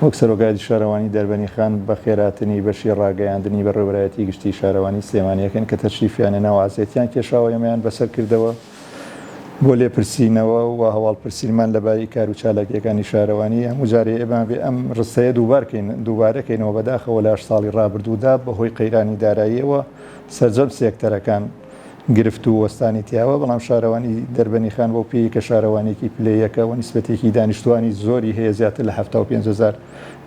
وەک سەرۆکایەتی شارەوانی دەربەنیخان بەخێراتنی بەشی ڕاگەیاندنی بەڕێوەبەرایەتی گشتی شارەوانی سلێمانیەکەن کە تەشریفیانە ناو عەزێتیان کێشاوە ئێمەیان بەسەر کردەوە بۆ لێپرسینەوە و هەواڵپرسینمان لەباری کارو چالاکییەکانی شارەوانی، هەموو جارێ ئێمە بێ ئەم ڕستەیە دووبارکەین دووبارەکەینەوە بەداخەوە لە هەشت ساڵی ڕابردوودا بەهۆی قەیرانی داراییەوە سەرجەم سێکتەرەکان گرفت و وەستانی تیاوە بەڵام شارەوانی دەربەنی خان بەو پێیەی کە شارەوانیەکی پلە یەکە و نیسبەتێکی دانیشتوانی زۆری هەیە زیاتر لە حەفتا و پێنج هەزار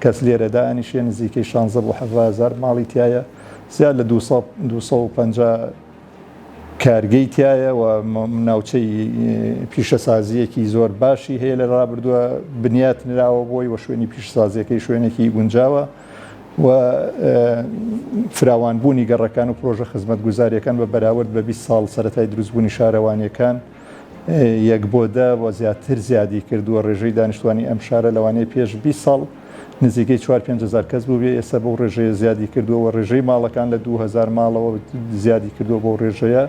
کەس لێرە دائەنیشێ نزیکەی شانزە بۆ حەڤە هەزار ماڵی تیایە زیاد لە دوو سەد و پەنجا کارگەی تیایە و ناوچەی پیشەسازییەکی زۆر باشی هەیە لە رابردووە بنیات نراوە بۆی و شوێنی پیشەسازییەکەی شوێنێکی گونجاوە و فراوان بوونی گەڕەکان و پرۆژە خزمەتگوزارییەکان بە بەراورد بە بیست ساڵ سەرەتای دروست بوونی شارەوانییەکان یەک بۆ دە و زیاتر زیادی کردووە رێژەی دانیشتوانی ئەم شارە لەوانەیە پێش بیست ساڵ نزیکەی چوار پێنج هەزار کەس بووبێ ئێستا بەو ڕێژەیە زیادی کردووە و ڕێژەی ماڵەکان لە دوو هەزار ماڵەوە زیادی کردووە بەو ڕێژەیە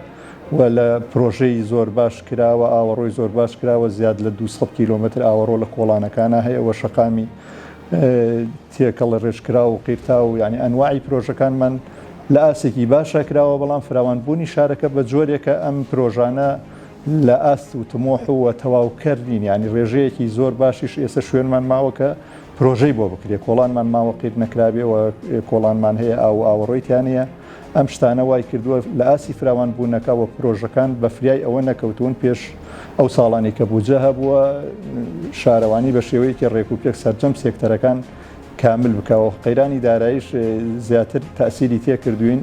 و لە پرۆژەی زۆر باش کراوە ئاوەڕۆی زۆر باش کراوە زیاد لە دوو سەد کیلۆمەتر ئاوەڕۆ لە کۆڵانەکانا هەیە وە شەقامی تێکەڵە ڕێژکراو و قیرتاو و یانی ئەنواعی پرۆژەکانمان لە ئاستێکی باشا کراوە بەڵام فراوانبوونی شارەکە بە جۆرێکە ئەم پرۆژانە لە ئاست و تموح و تەواو کەر نین یانی رێژەیەکی زۆر باشیش ئێسە شوێنمان ماوە کە پرۆژەی بۆ بکرێ کۆڵانمان ماوە قیر نەکرابێ و کۆڵانمان هەیە ئاو و ئاوەڕۆی تیانەیە ئەم شتانە وای کردووە لە ئاسی فراوان بوونەکە وە پرۆژەکان بە فریای ئەوە نەکەوتوون پێش ئەو ساڵانی کە بوجە هەبووە شارەوانی بە شێوەیەکی ڕێک و پێک سەرجەم سێکتەرەکان کامل بکەوە قەیرانی دارایش زیاتر تاسیری تێکردوین.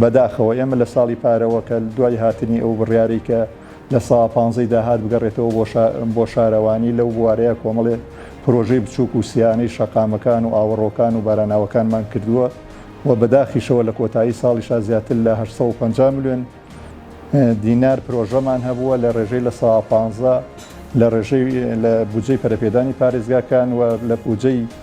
بەداخەوە ئێمە لە ساڵی پارەوە کە دوای هاتنی ئەو بڕیارەی کە لە سا پانزەی داهات بگەڕێتەوە بۆ شا بۆ شارەوانی لەو بوارەیە کۆمەڵێ پرۆژەی بچووک و سیانەی شەقامەکان و ئاوەڕۆکان و باراناوەکانمان کردووە و بە داخیشەوە لە کۆتایی ساڵیشا زیاتر لە هەشت سەد و پەنجا ملیۆن دینار پرۆژەمان هەبووە لە ڕێژەی لە سا پانزە لە ڕێژەی لە بودجەی پەرەپێدانی پارێزگاکان و لە بودجەی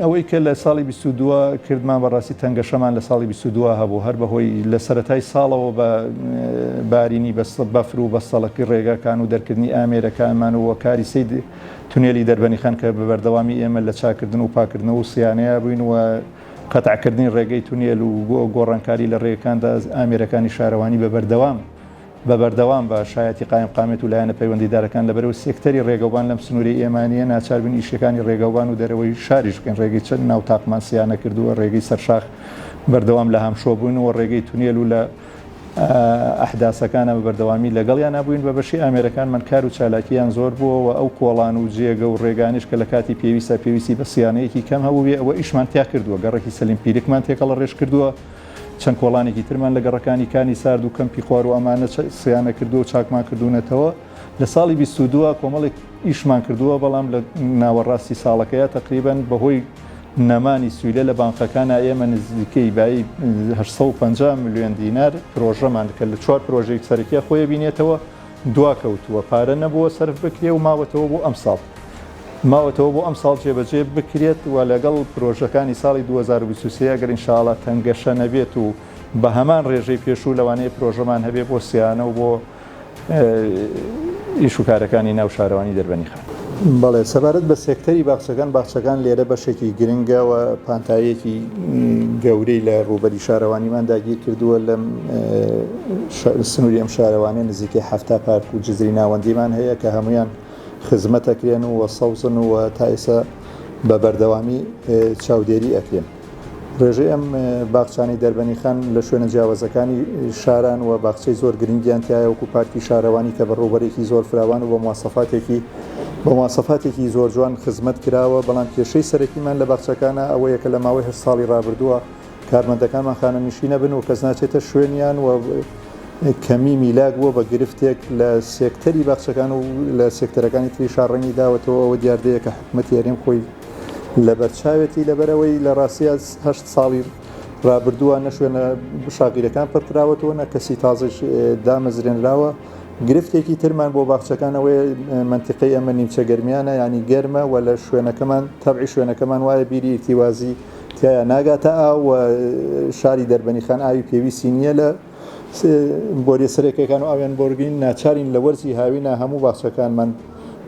ئەوەی کە لە ساڵی بیست و دوو کردمان بەڕاستی تەنگەشەمان لە ساڵی بیست و دوو هەبوو هەر بەهۆی لە سەرەتای ساڵەوە بە بارینی بەستە بەفر و بەستەڵەکی ڕێگاکان و دەرکردنی ئامێرەکانمان و کاری سید تونێلی دەربەنیخان کە بە بەردەوامی ئێمە لە چاکردن و پاکردنەوە و سیانەیا بووین و قەتعکردنی ڕێگەی تونێل و گۆڕانکاری لە ڕێگەکاندا ئامێرەکانی شارەوانی بە بەردەوام بە بەردەوام بە شایەتی قایمقامیەت و لایەنە پەیوەندیدارەکان لە بەرەو سێکتەری ڕێگەوبان لەم سنوورەی ئێمە نییە ناچار بین ئیشکەکانی ڕێگەوبان و دەرەوەی شاریش بکەین ڕێگەی چەک ناو تاقمان سیا نەکردووە ڕێگەی سەرشاخ بەردەوام لە هامشۆ بووین و ڕێگەی تونێل و لە ئەحداسەکانە بە بەردەوامی لەگەڵیانا بووین بە بەشی ئامێرەکانمان کار و چالاکییان زۆر بووە و ئەو کۆڵان و جێگە و ڕێگانەیش کە لە کاتی پێویستدا پێویستی بە سیانەیەکی کەم هەبووبێ ئەوە ئیشمان تیا کردووە گەڕەکی سەلیم پیرکمان تێکەڵەڕێژ کردووە چەند کۆڵانێکی ترمان لە گەڕەکانی کانی سارد و کەمپی خوارو ئەمانە سیانە کردووە و چاکمان کردوونەتەوە. لە ساڵی بیست و دوو کۆمەڵێک ئیشمان کردووە، بەڵام لە ناوەڕاستی ساڵەکەیا تەقریبەن بەهۆی نەمانی سویلە لە بانقەکانا ئێمە نزیکەی بایی هەشت سەد و پەنجا ملیۆن دینار پرۆژەمان کە لە چوار پرۆژەی سەرەکیا خۆیەبینێتەوە، دواکەوتووە، پارە نەبووە سەرف بکرێ و ماوەتەوە بۆ ئەمساڵ ماوەتەوە بۆ ئەمساڵ جێبەجێ بکرێت و لەگەڵ پرۆژەکانی ساڵی دوو هەزار و بیست و سێ ئەگەر ان شاء اللە تەنگەشە نەبێت و بە هەمان رێژەی پێشوو لەوانەیە پرۆژەمان هەبێ بۆ سیانە و بۆ ئیش و کارەکانی ناو شارەوانی دەربەنیخا. بەڵێ سەبارەت بە سێکتەری باخچەکان، باخچەکان لێرە بەشێکی گرنگە و پانتاییەکی گەورەی لە ڕووبەری شارەوانیمان داگیر کردووە، لەم سنووری ئەم شارەوانیە نزیکەی حەفتا پارک و جزری ناوەندیمان هەیە کە هەموویان خزمەت ئەکرێن و سەوزن و تا ئێستا بە بەردەوامی چاودێری ئەکرێن. ڕێژەی ئەم باخچانەی دەربەنیخان لە شوێنە جیاوەزەکانی شاران و باخچەی زۆر گرنگیان تایە وەکو پارکی شارەوانی کە بە ڕووبەرێکی زۆر فراوان و بە مواسەفاتێکی بە مواسەفاتێکی زۆر جوان خزمەت کراوە بەڵام کێشەی سەرەکیمان لە باخچەکانە ئەوەیە کە لە ماوەی هەشت ساڵی ڕابردووە کارمەندەکانمان خانەنشینە بن و کەس ناچێتە شوێنیان و کەمی میلاک بووە بە گرفتێک لە سێکتەری باخچەکان و لە سێکتەرەکانی تری شار ڕەنگی داوەتەوە ئەوە دیاردەیەکە حکومەتی هەرێم خۆی لەبەرچاوێتی لەبەرئەوەی لەڕاستیا هەشت ساڵی ڕابردووە نە شوێنە شاغیرەکان پڕکراوەتەوە نە کەسی تازەیش دامەزرێنراوە گرفتێکی ترمان بۆ باخچەکان ئەوەیە مەنتیقەی ئەمە نیمچە گەرمیانە یانی گەرمە و لە شوێنەکەمان تەبعی شوێنەکەمان وایە بیری ئیرتیوازی تیایا ناگاتە ئاو و شاری دەربەنیخان ئاوی پێویستی نییە لە بۆریە سەرەکیەکان و ئاویان بۆرگین، ناچارین لە وەرزی هاوینا هەموو باخچەکانمان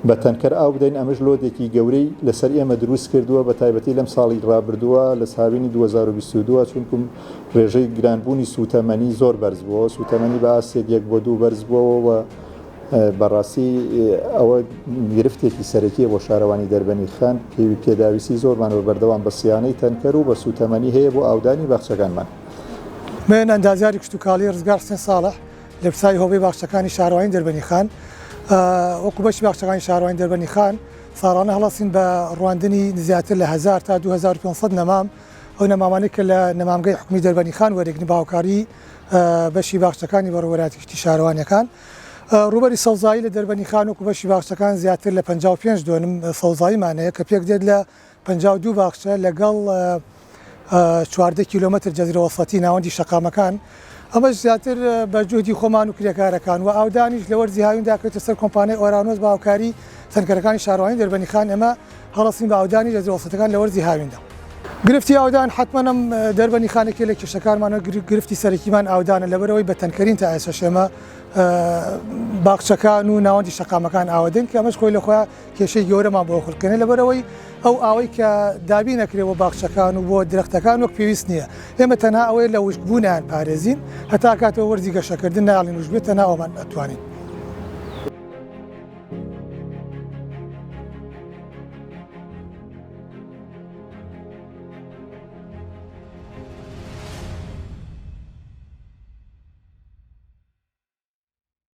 بە تەنکەر ئاو بدەین، ئەمەش لۆدێکی گەورەی لەسەر ئێمە دروست کردووە، بەتایبەتی لەم ساڵی رابردووە لە هاوینی دوو هەزار و بیست و دوو، چونکوم رێژەی گرانبوونی سووتەمەنی زۆر بەرز بووەوە، سووتەمەنی بە ئاستێک یەک بۆ دوو بەرز بووەوە و بەڕاستی ئەوە گرفتێکی سەرەکیە بۆ شارەوانی دەربەنی خان، پێویپێداویستی زۆرمان بە بەردەوام بە سیانەی تەنکەر و بە سووتەمەنی هەیە بۆ ئاودانی باخچەکانمان. نوێنەری ئەندازیاری کشتوکاڵی ڕزگار حسێن ساڵح لە پساوی هۆبەی باخچەکانی شارەوانی دەربەنی خان وەکو بەشی باخچەکانی شارەوانی دەربەنی خان ساڵانە هەڵەسین بە ڕواندنی زیاتر لە هزار تا 2500 نەمام ئەو نەمامانێک کە لە نەمامگەی حکومی دەربەنی خان وەرێگن باوکاری بەشی باخچەکانی بەڕوەراتی کشتی شارەوانەکان ڕوبەری سەوزایی لە دەربەنی خان وەکو بەشی باخچەکان زیاتر لە 55 دۆنم سەوزاییمانەیە کە پێک دێت لە پەنجا و دوو باخچە لەگەڵ چواردە کیلۆمەتر جەزرە وەسەتی ناوەندی شەقامەکان، ئەمەش زیاتر بە جوهدی خۆمان و کرێکارەکان و ئاودانیش لە وەرزی هاویندا کەوتە سەر کۆمپانیای ئۆرانۆس بە هاوکاری تەنکەرەکانی شارەوانی دەربەنیخان ئێمە هەڵەستین بە ئاودانی جەزرە وەسەتەکان لە وەرزی هاویندا. گرفتی ئاودان حەتمەن ئەم دەربەنیخانە یەکێک لە کێشەکانمانە و گرفتی سەرەکیمان ئاودانە لەبەرئەوەی بە تەنکەرین تا ئێسەش ئێمە باخچەکان و ناوەندی شەقامەکان ئاوەدەین کە ئەمەش خۆی لە خۆیان کێشەی گەورەمان بۆ خولکەنێ لەبەرەوەی ئەو ئاوەی کە دابی نەکرێ بۆ باخچەکان و بۆ درەختەکان وەک پێویست نییە ئێمە تەنها ئەوەیە لە وشکبوونیان پارێزین هەتا کاتەوە وەرزی گەشەکردن ناڵین وشبێتە ناوەمان ئەتوانین.